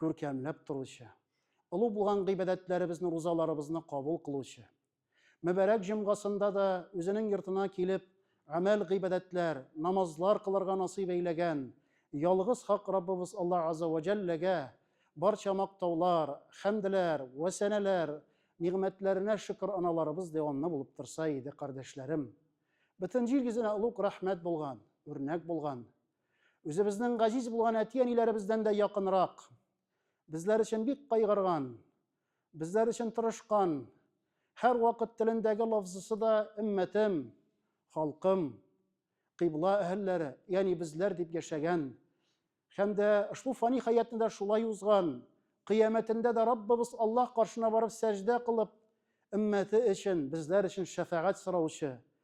күркәмләп торучы, олы булган гыйбадәтләребезне, рузаларыбызны кабул кылучы, мөбарәк җомгасында да үзенең йортына килеп, гамәл гыйбадәтләр, намазлар кылырга насыйп әйләгән ялгыз хак Раббыбыз Аллаһ Азза ва Җәлләгә барча мактаулар, хәмдләр вә сәнәләр, нигъмәтләренә шөкер аналарыбыз дәвамлы булып торса иде, кардәшләрем. Бөтен җир йөзенә олуг рәхмәт булган, үрнәк булган, Үзебезнең газиз булган әти-әниләребездән дә якынрак, безләр өчен бик кайгырган, безләр өчен тырышкан, һәр вакыт телендәге лафзысы да иммәтем, халкым, кыйбла әһелләре, ягъни безләр дип яшәгән һәм дә ошбу фани хәятны да шулай узган, кыямәтендә дә Раббыбыз Аллаһ каршына барып сәҗдә кылып, иммәте өчен, безләр өчен шәфәгать сораучы,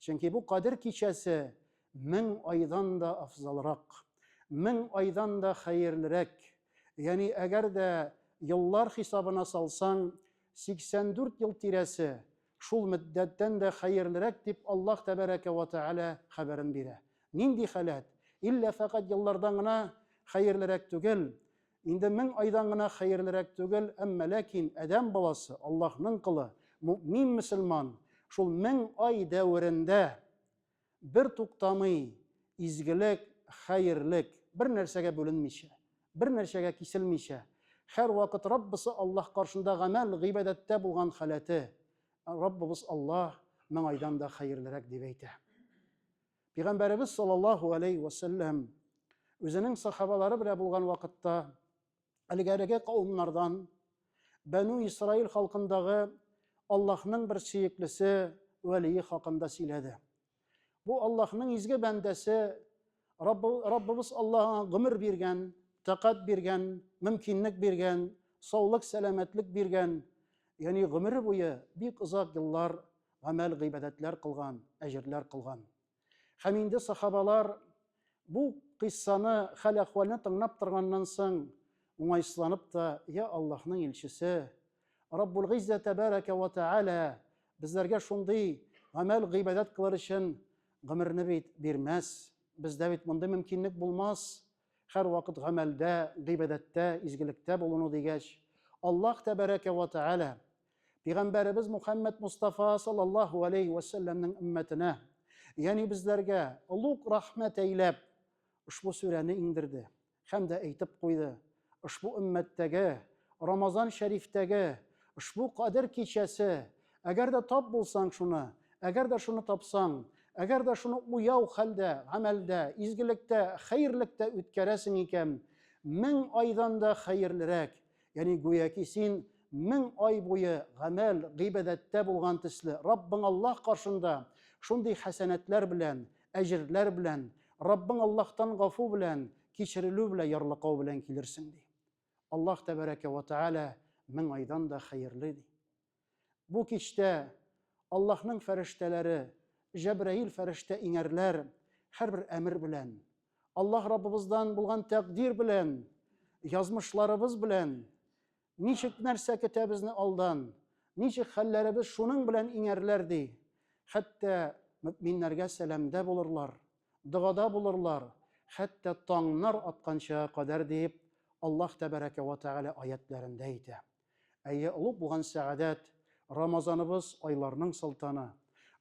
Чөнки бу Кадер кичәсе мең айдан да афзалрак, мең айдан да хәерлерәк. Ягъни, әгәр дә еллар хисабына салсаң, 84 ел тирәсе шул мөддәттән дә хәерлерәк, дип Аллаһ Тәбәрәкә вә Тәгалә хәбәрен бирә. Нинди халәт? Иллә фәкать еллардан гына хәерлерәк түгел, Инде мең айдан гына хәерлерәк түгел, әмма ләкин адәм баласы, Аллаһның колы, мөэмин мөселман, шул мең ай дәверендә бер туктамый изгелек, хәерлек, бер нәрсәгә бүленмичә, бер нәрсәгә киселмичә, һәрвакыт Раббысы Аллаһ каршында гамәл, гыйбадәттә булган халәте, Раббыбыз Аллаһ мең айдан да хәерлерәк дип әйтә. Пигамбәребез саллаллаһу алейһи вә сәлләм үзенең сахабалары белән булган вакытта әлегәреге кавымнардан Бәну Исраил халкындагы Аллаһның бер сөеклесе вәлие хакында сөйләде. Бу Аллаһның изге бәндәсе Раббыбыз Аллаһ гомер биргән, тәкать биргән, мөмкинлек биргән, саулык, сәламәтлек биргән, ягъни гомере буе бик озак еллар гамәл гыйбадәтләр кылган, әҗерләр кылган. Һәм инде сахабалар бу кыйссаны, хәл-әхвалны тыңлап торганнан соң, уңайсызланып та, я Аллаһның илчесе, Раббул Гыйззә тәбәрәкә вә тәгалә безләргә шундый гамәл гыйбадәт кылыр өчен гомерне бит бирмәс. Бездә бит мондый мөмкинлек булмас. Һәрвакыт гамәлдә, гыйбадәттә, изгелектә булыну дигәч, Аллаһ тәбәрәкә вә тәгалә Пәйгамбәребез Мухаммед Мустафа саллаллаху алейхи ва саллямның уммәтенә, ягъни безләргә олуг рәхмәт әйләп, ошбу сүрәне иңдерде һәм дә әйтеп куйды: ошбу уммәттәге Рамазан шәрифтәге ошбу кадер кичәсе, әгәр дә тап булсаң шуны, әгәр дә шуны тапсаң, әгәр дә шуны уяу хәлдә, гамәлдә, изгелектә, хәерлектә үткәрәсең икән, мең айдан да хәерлерәк, Яни гүяки син мең ай буе гамәл, гыйбадәттә булган төсле, Раббың Аллаһ каршында шундый хәсәнәтләр белән, әҗерләр белән, Раббың Аллаһтан гафу белән, кичерелү белән, ярлыкау белән килерсең, ди. Аллаһ тәбәрәкә вә тәгалә мең айдан да хәерле, ди. Бу кичтә Аллаһның фәрештәләре, Җәбраил фәрештә иңәрләр, һәрбер әмер белән, Аллаһ Раббыбыздан булган тәкъдир белән, язмышларыбыз белән, ничек нәрсә көтә безне алдан, ничек хәлләребез шуның белән иңәрләр ди. Хәтта мөминнәргә сәламдә булырлар, догада булырлар, хәтта таңнар атканчага кадәр дип Аллаһ Тәбәрәкә вә Тәгалә аятьләрендә әйтә. Әйе, олуг булган сәгадәт, Рамазаныбыз, айларның солтаны.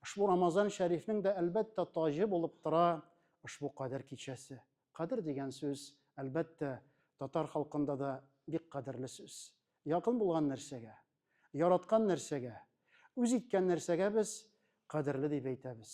Ошбу Рамазан шәрифнең дә, әлбәттә, таҗы булып тора ошбу Кадер кичәсе. Кадер дигән сүз, әлбәттә, татар халкында да бик кадерле сүз. Якын булган нәрсәгә, яраткан нәрсәгә, үз иткән нәрсәгә без кадерле дип әйтәбез.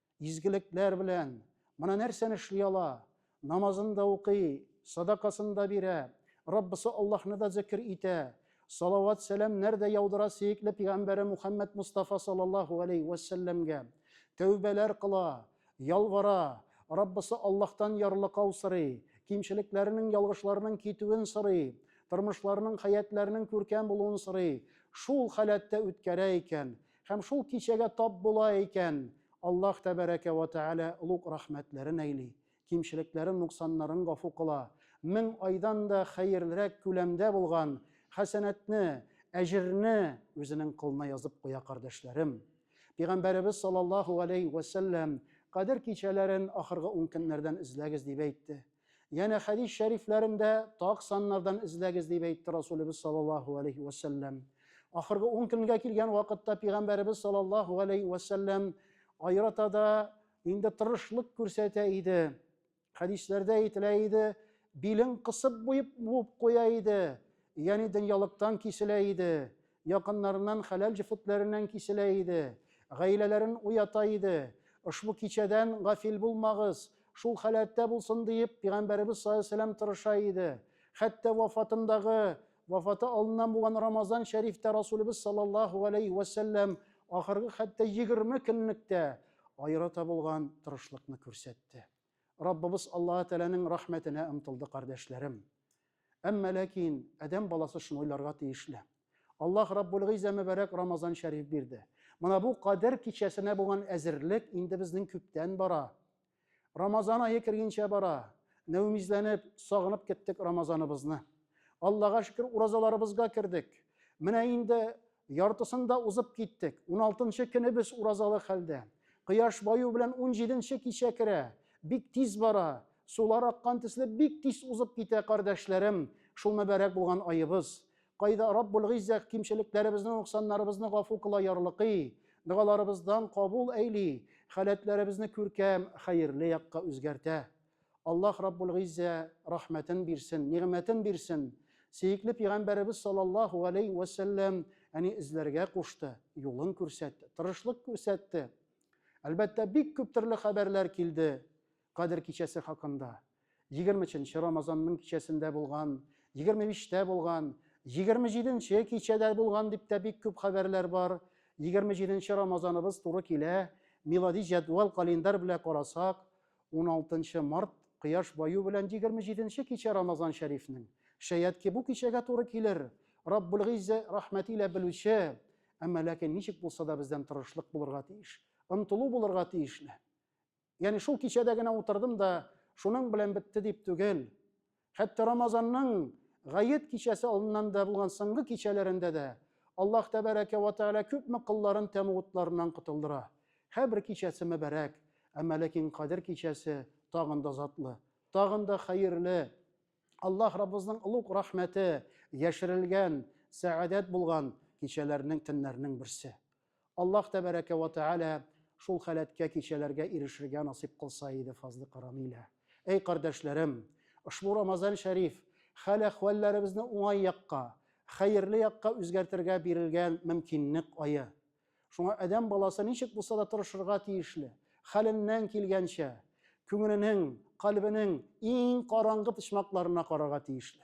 Изгелекләр белән. Менә нәрсәне эшли ала. Намазын да укый, садакасын да бирә, Раббысы Аллаһны да зикер итә, салават-сәламнәр дә яудыра сөекле пигамбәре Мухаммәд Мустафа саллаллаһу алейһи вә сәлләмгә. Тәүбәләр кыла, ялвара, Раббысы Аллаһтан ярлыкау сорый, кимчелекләренең, ялгышларының китүен сорый, тормышларының, хәятләренең күркәм булуын сорый. Шул халәттә үткәрә икән. Һәм шул кичәгә тап була икән, Аллаһ Тәбәрәкә вә Тәгалә олуг рәхмәтләрен әйли, кимчелекләрен, нуксаннарын гафу кыла, мең айдан да хәерлерәк күләмдә булган хәсәнәтне, әҗерне Үзенең кылына язып куя, кардәшләрем. Пигамбәребез саллаллаһу галәйһи вә сәлләм, Кадер кичәләрен ахыргы ункөннәрдән эзләгез дип әйтте. Янә хәдис шәрифләрендә так саннардан эзләгез дип әйтте Расулебез саллаллаһу алейһи вә сәлләм. Ахыргы ун көнгә килгән вакытта пигамбәребез саллаллаһу алейһи вә сәлләм аерата да инде тырышлык күрсәтә иде. Хәдисләрдә әйтелә иде, билен кысып буеп буып куя иде, ягъни дөньялыктан киселә иде. Якыннарыннан хәләл җефетләреннән киселә иде, гаиләләрен уята иде. Ошбу кичәдән гафил булмагыз, шул халәттә булсын диеп, пигамбәребез салләһу-галәйһи-ва-сәлләм тырыша иде. Хәтта вафатындагы, вафаты алдыннан булган Рамазан шәрифтә Расулебез салләллаһу-галәйһи-ва-сәлләм ахыргы хәтта егерме көнлек тә аерата булган тырышлыкны күрсәтте. Раббыбыз Аллаһы Тәгаләнең рәхмәтенә омтылды, кардәшләрем. Әмма ләкин адәм баласы шуны уйларга тиешле. Аллаһ Раббул Гыйззә мөбарәк Рамазан шәриф бирде. Менә бу Кадер кичәсенә булган әзерлек инде безнең күптән бара. Рамазан ае кергенчә бара. Нәүмизләнеп, сагынып кеттек Рамазаныбызны. Аллага шөкер, уразаларыбызга кердек. Менә инде Яртысын да узып киттек. Уналтынчы көне без уразалы хәлдә. Кояш баю белән унҗиденче кичә керә. Бик тиз бара. Сулар аккан төсле бик тиз узып китә, кардәшләрем, шул мөбарәк булган аебыз. Кайда Раббул-Гыйззәх кимчелекләребезне, нуксаннарыбызны гафу кыла ярлыкый, догаларыбыздан кабул әйли, халәтләребезне күркәм, хәерле якка үзгәртә. Аллаһ Раббул-Гыйззә рәхмәтен бирсен, нигъмәтен бирсен, сөекле Пигамбәребез саллаллаһу галәйһи вә сәлләм әни эзләргә кушты, юлын күрсәтте, тырышлык күрсәтте. Әлбәттә, бик күп төрле хәбәрләр килде Кадер кичәсе хакында. Егерме өченче Рамазанның кичәсендә булган, егерме биштә булган, егерме җиденче кичәдә булган дип тә бик күп хәбәрләр бар. Егерме җиденче Рамазаныбыз туры килә, милади җәдвал календарь белә карасак, 16 март кояш баю белән 27 нче кичә Рамазан шәрифнең. Шәят ки бу кичәгә туры килер. Раббул Гыйззә рәхмәте илә белүче, әмма ләкин ничек булса да бездән тырышлык булырга тиеш, ынтылу булырга тиешле. Ягъни шул кичәдә генә утырдым да шуның белән бетте дип түгел. Хәтта Рамазанның гает кичәсе алдыннан да булган соңгы кичәләрендә дә Аллаһ тәбәрәкә ва тәгалә күпме колларын тәмуг утларыннан котылдыра. Һәбер кичәсе мөбарәк, әмма ләкин Кадер кичәсе тагын да затлы, тагын да хәерле. Аллаһ Раббыбызның олуг рәхмәте яшерелгән, сәгадәт булган кичәләрнең, төннәрнең берсе. Аллаһ тәбәрәкә вә тәгалә шул халәткә, кичәләргә ирешергә насыйп кылса иде, фазлы карамилә. Әй кардәшләрем! Ошбу Рамазан шәриф хәл-әхвәлләребезне уңай якка, хәерле якка үзгәртергә бирелгән мөмкинлек ае. Шуңа адәм баласы ничек булса да тырышырга тиешле, хәленнән килгәнчә, күңеленең, кальбенең иң караңгы почмакларына карарга тиешле.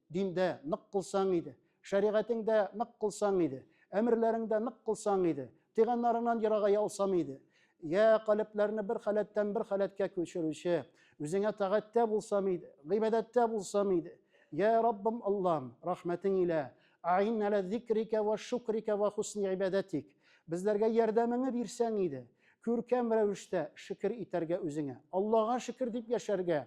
Диндә нык кылсаң иде, шәригатеңдә нык кылсаң иде, әмерләреңдә нык кылсаң иде, тыйганнарыңнан ерагая алсам иде. Йә, калебләрне бер халәттән бер халәткә күчерүче, үзеңә тагатьтә булсам иде, гыйбадәттә булсам иде. Йә, Раббым, Аллам, рәхмәтең илә, аин әлә зикрика вә шукрика вә хусни гыйбадәтик, безләргә ярдәмеңне бирсәң иде, күркәм рәвештә шөкер итәргә үзеңә, Аллага шөкер дип яшәргә.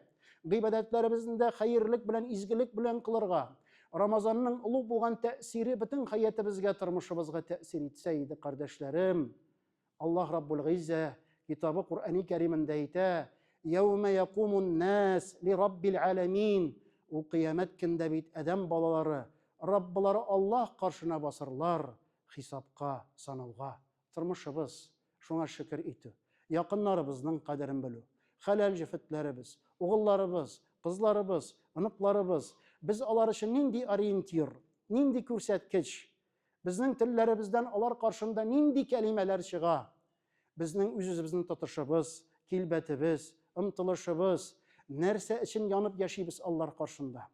Гыйбадәтләребезне дә хәерлек белән, изгелек белән кылырга, Рамазанның олуг булган тәэсире бөтен хәятыбызга, тормышыбызга тәэсир итсә иде, кардәшләрем. Аллаһ Раббул Гыйззә китабы Куръани Кәримендә әйтә: "Яума якумун нас ли Раббил аламин". Ул кыямәт көндә бит адәм балалары Раббылары Аллаһ каршына басырлар, хисапка, санауга. Тормышыбыз, шуңа шөкер итү, якыннарыбызның кадерен белү, хәләл җефетләребез, угылларыбыз, кызларыбыз, оныкларыбыз, без алар өчен нинди ориентир, нинди күрсәткеч, безнең телләребездән алар каршында нинди кәлимәләр чыга, безнең үзебезнең тотышыбыз, килбәтебез, омтылышыбыз, нәрсә өчен янып яшибез алар каршында.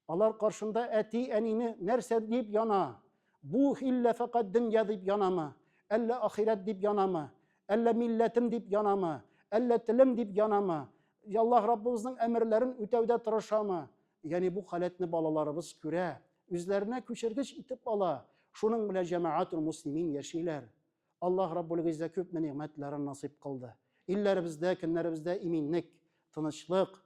Алар каршында әти-әнине нәрсә дип яна? Бу иллә фәкать дөнья дип янамы? Әллә ахирәт дип янамы? Әллә милләтем дип янамы? Әллә телем дип янамы? Аллаһ Раббыбызның әмерләрен үтәүдә тырышамы? Ягъни бу халәтне балаларыбыз күрә, үзләренә күчергеч итеп ала, шуның белән җәмәгатул муслимин яшиләр. Аллаһ Раббул Гыйззә күпме нигъмәтләрен насыйп кылды. Илләребездә, көннәребездә иминлек, тынычлык,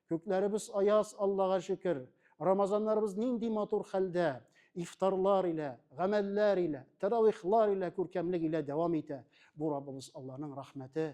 күкләребез аяз, Аллага шөкер. Рамазаннарыбыз нинди матур хәлдә, ифтарлар илә, гамәлләр илә, тәравихлар илә, күркәмлек илә дәвам итә. Бу Раббыбыз Алланың рәхмәте,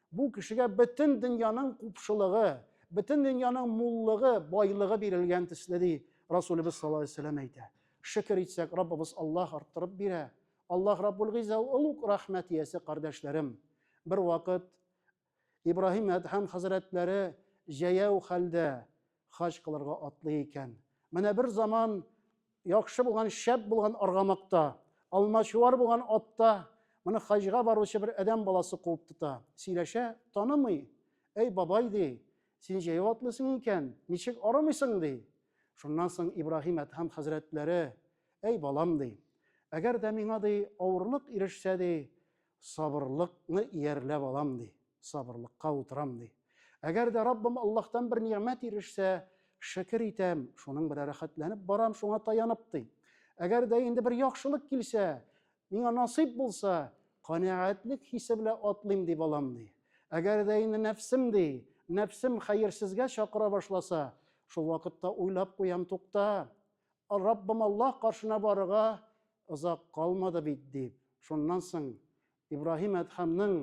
Бу кешегә бөтен дөньяның купшылыгы, бөтен дөньяның муллыгы, байлыгы бирелгән төсле ди Расулыбыз саллаллаһу алейһи вәсәлләм әйтә. Шөкер итсәк, Раббыбыз Аллаһ арттырып бирә. Аллаһ Раббул Гыйза ул ук рәхмәт иясе кардәшләрем. Бер вакыт Ибраһим Әдһәм хәзрәтләре җәяү хәлдә Хаҗ кылырга атлый икән. Менә бер заман яхшы булган, шәп булган аргамакта, алмачуар булган атта моны хаҗга баручы бер адәм баласы куып тота. Сөйләшә, танымый. Әй, бабай, ди, син җәяү атлыйсың икән, ничек арымыйсың, ди. Шуннан соң Ибраһим Әдһәм хәзрәтләре, әй, балам, ди, әгәр дә миңа, ди, авырлык ирешсә, ди, Сабырлыкны иярләп алам, ди. Сабырлыкка утырам, ди. Әгәр дә Раббым Аллаһтан бер нигъмәт ирешсә, шөкер итәм, шуның белән рәхәтләнеп барам, шуңа таянып, ди. Әгәр дә инде бер яхшылык килсә, миңа насыйп булса, канәгатьлек хисе белән атлыйм, ди балам, ди. Әгәр дә инде нәфсем, ди, нәфсем хәерсезгә чакыра башласа, шул вакытта уйлап куям, тукта, Раббым Аллаһ каршына барырга озак калмады бит, дип. Шуннан соң Ибраһим әдһәмнең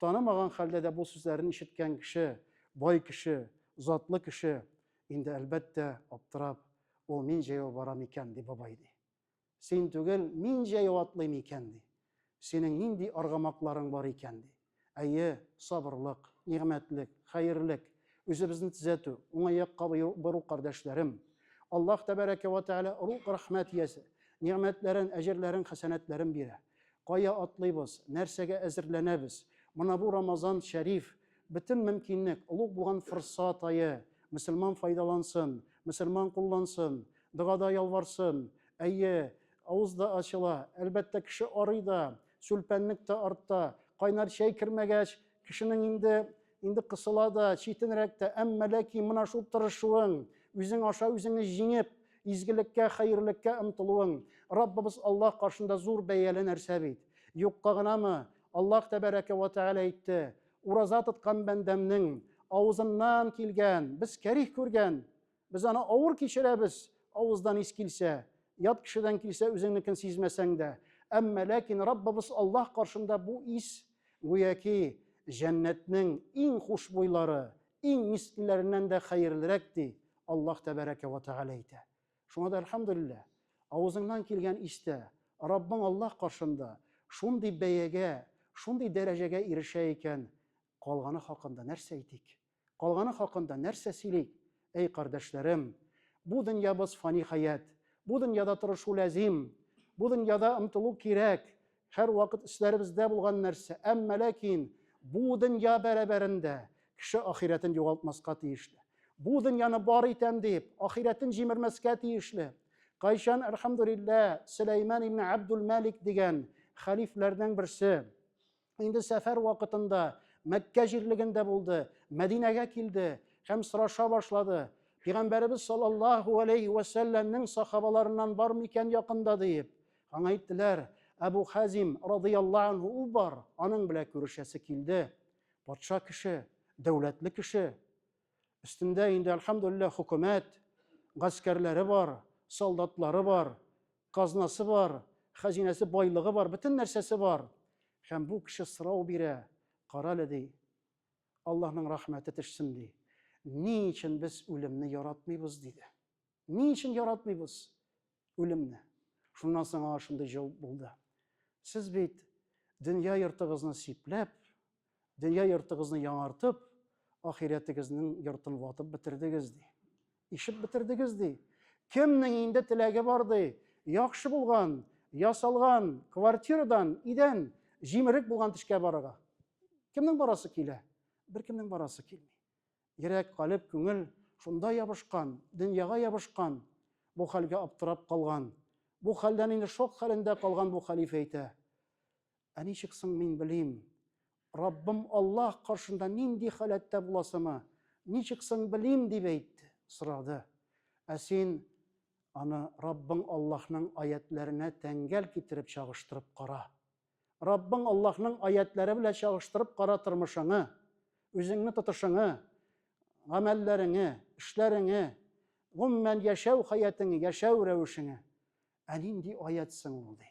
танымаган хәлдә дә бу сүзләрен ишеткән кеше, бай кеше, затлы кеше, инде, әлбәттә, аптырап, Ул мин җәяү барам икән, ди, бабай, ди. Син түгел, мин җәяү атлыйм икән, ди. Синең нинди аргамакларың бар икән, ди. Әйе, сабырлык, нигъмәтлек, хәерлек, үзебезне төзәтү, уңай якка бору, кардәшләрем. Аллаһ тәбәрәкә вә тәгалә рухи рәхмәт иясе, нигъмәтләрен, әҗерләрен, хәсәнәтләрен бирә. Кая атлыйбыз, нәрсәгә әзерләнәбез? Менә бу Рамазан шәриф, бөтен мөмкинлек, олуг булган форсат ае. Мөселман файдалансын, мөселман куллансын, догада ялварсын. Әйе, авыз да ачыла, әлбәттә, кеше арый да, Сүлпәнлек тә артта. Кайнар чәй кермәгәч, кешенең инде инде кысыла да, читенрәк тә, әмма ләкин менә шул тырышуың, үзең аша үзеңне җиңеп, изгелеккә, хәерлеккә омтылуың, Раббыбыз Аллаһ каршында зур бәяле нәрсә бит. Юкка гынамы? Аллаһ тәбәрәкә вә тәгалә әйтте, Ураза тоткан бәндәмнең авызыннан килгән, без кәрих күргән, Без аны авыр кичерәбез, авыздан ис килсә, ят кешедән килсә, үзеңнекен сизмәсәң дә. Әмма ләкин Раббыбыз Аллаһ каршында бу ис гүяки җәннәтнең иң хушбуйлары, иң мискиләреннән дә хәерлерәк ди Аллаһ тәбәрәкә ва тәгалә әйтә. Шуңа да әлхәмдүлилләһ, авызыңнан килгән истә Раббың Аллаһ каршында шундый бәягә, шундый дәрәҗәгә ирешә икән, калганы хакында нәрсә әйтик? Калганы хакында нәрсә сөйлик? Әй кардәшләрем! Бу дөньябыз фани хәят. Бу дөньяда тырышу ләзим. Бу дөньяда омтылу кирәк. Һәрвакыт өсләребездә булган нәрсә. Әмма ләкин бу дөнья бәрабәрендә кеше ахирәтен югалтмаска тиешле. Бу дөньяны бар итәм дип, ахирәтен җимермәскә тиешле. Кайчан, әлхәмдүлилләһ, Сөләйман ибне Абдул-Мәлик дигән хәлифләрнең берсе, инде сәфәр вакытында Мәккә җирлегендә булды, Мәдинәгә килде һәм сораша башлады. Пәйгамбәребез саллаллаһу алейхи ва сәлләмнең сахабаларыннан бар микән якында диеп. Аңа әйттеләр, Әбу Хазим радияллаһу анһу у бар, аның белән күрешәсе килде. Патша кеше, дәүләтле кеше. Өстендә инде, альхамдулиллаһ, хөкүмәт, гаскәрләре бар, солдатлары бар. Казнасы бар, хәзинәсе, байлыгы бар, бөтен нәрсәсе бар. Һәм бу кеше сорау бирә, карале ди, Аллаһның рәхмәте төшсен ди. Ни өчен без үлемне яратмыйбыз диде. Ни өчен яратмыйбыз үлемне? Шуннан соң аңа шундый җавап булды. Сез бит дөнья йортыгызны сипләп, Дөнья йортыгызны яңартып, ахирәтегезнең йортын ватып бетердегез, ди. Ишеп бетердегез, ди. Кемнең инде теләге бар, ди. Яхшы булган, ясалган квартирадан идән җимерек булган тешкә барырга. Кемнең барасы килә? Беркемнең барасы килми. Йөрәк, калеб, күңел шунда ябышкан, дөньяга ябышкан, бу хәлгә аптырап калган. Бу хәлдән инде шок хәлендә калган бу хәлифә әйтә. Ә ничек соң мин белим, Раббым Аллаһ каршында нинди халәттә буласымы? Ничек соң белим? дип әйтте, сорады. Ә син аны Раббың Аллаһның аятьләренә тәңгәл китереп чагыштырып кара. Раббың Аллаһның аятьләре белән чагыштырып кара тормышыңны, үзеңне тотышыңны, гамәлләреңне, эшләреңне, гомумән яшәү хәятыңны, яшәү рәвешеңне. Ә нинди аять соң ул, ди.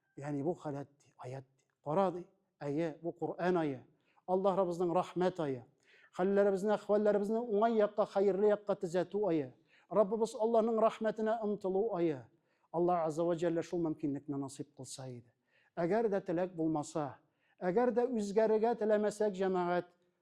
Ягъни бу халәт ди, аят ди. Кара ди, әйе, бу Коръән ае. Аллаһ Раббыбызның рәхмәт ае. Хәлләребезне, әхвәлләребезне уңай якка, хәерле якка төзәтү ае. Раббыбыз Аллаһның рәхмәтенә омтылу ае. Аллаһ Азза ва Җәллә шул мөмкинлекне насыйп кылса иде. Әгәр дә теләк булмаса, әгәр дә үзгәрергә теләмәсәк, җәмәгать,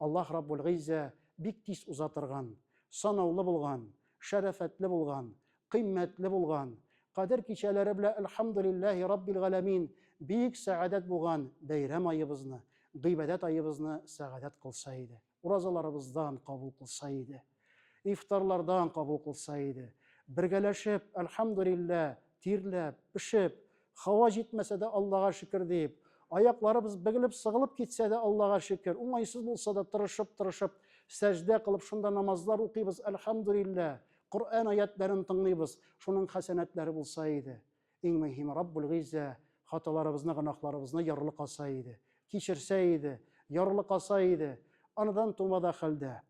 Аллаһ Раббул Гыйззә бик тиз уза торган, санаулы булган, шәрәфәтле булган, кыйммәтле булган, Кадер кичәләре белән Әлхәмдүлилләһи Раббил Галәмин бик сәгадәт булган бәйрәм аебызны, гыйбадәт аебызны сәгадәт кылса иде, уразаларыбыздан кабул кылса иде. Ифтарлардан кабул кылса иде. Бергәләшеп, әлхәмдүлиллә, тирләп, пешеп, һава җитмәсә дә Аллага шөкер диеп, аякларыбыз бөгелеп-сыгылып китсә дә Аллага шөкер, уңайсыз булса да тырышып-тырышып сәҗдә кылып шунда намазлар укыйбыз, әлхәмдүлиллә, Коръән аятьләрен тыңлыйбыз, шуның хәсәнәтләре булса иде. Иң мөһиме, Раббул Гыйззә хаталарыбызны, гөнаһларыбызны ярлыкаса иде, кичерсә иде, ярлыкаса иде, аныдан тумада хәлдә,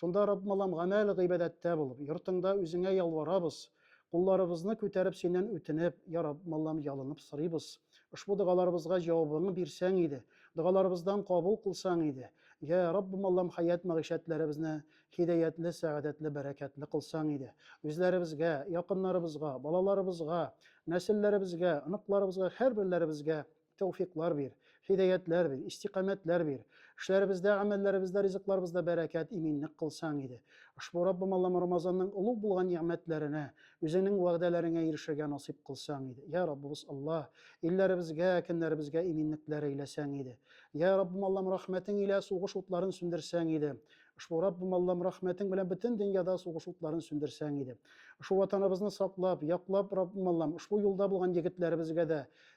Шунда, Раббым Аллам, гамәл гыйбадәттә булып, йортыңда үзеңә ялварабыз, кулларыбызны күтәреп синнән үтенеп, я Раббым Аллам, ялынып сорыйбыз. Ошбу догаларыбызга җавабыңны бирсәң иде, догаларыбыздан кабул кылсаң иде. Я Раббым Аллам, хәят-мәгыйшәтләребезне һидәятле, сәгадәтле, бәрәкәтле кылсаң иде. Үзләребезгә, якыннарыбызга, балаларыбызга, нәселләребезгә, оныкларыбызга, һәрберләребезгә тәүфиклар бир, хидәятләр бир, истикамәтләр бир. Эшләребездә, әмәлләребездә, ризыкларыбызда бәрәкәт, иминлек кылсаң иде. Ошбу Раббым Аллам Рамазанның олуг булган нигъмәтләренә, үзеңнең вәгъдәләреңә ирешергә насыйп кылсаң иде. Йә Раббыбыз Алла, илләребезгә, көннәребезгә иминлекләр әйләсәң иде. Йә Раббым Аллам рәхмәтең илә сугыш утларын сүндерсәң иде. Ошбу Раббым Аллам рәхмәтең белән бөтен дөньяда сугыш утларын сүндерсәң иде. Ошбу ватаныбызны саклап, яклап Раббым Аллам ошбу юлда булган егетләребезгә дә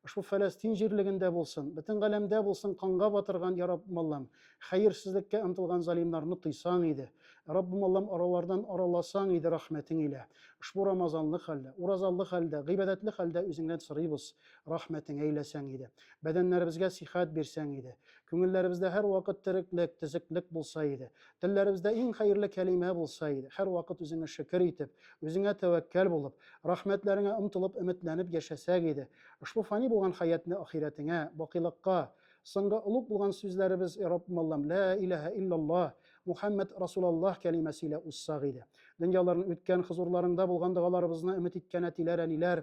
Ошбу Фәләстин җирлегендә булсын, бөтен галәмдә булсын канга батырган, я Раббым Аллам, хәерсезлеккә омтылган залимнарны тыйсаң иде. Раббым Аллам, аралардан араласаң иде рәхмәтең илә. Ошбу рамазанлы хәлдә, уразалы хәлдә, гыйбадәтле хәлдә үзеңнән сорыйбыз, рәхмәтең әйләсәң иде. Бәдәннәребезгә сихәт бирсәң иде. Күңелләребездә һәрвакыт тереклек, төзеклек булса иде. Телләребездә иң хәерле кәлимә булса иде. Һәрвакыт үзеңә шөкер итеп, үзеңә тәвәккәл булып, рәхмәтләреңә омтылып, өметләнеп яшәсәк иде. Ошбу фани булган хәятне ахирәтеңә, бакыйлыкка, соңгы олуг булган сүзләребез, Раббмаллам, лә иләһә иллаллаһ, Мухәммәд расулаллаһ кәлимәсе илә узсак иде. Дөньяларның үткән хозурларыңда булган догаларыбызны өмет иткән әтиләр, әниләр,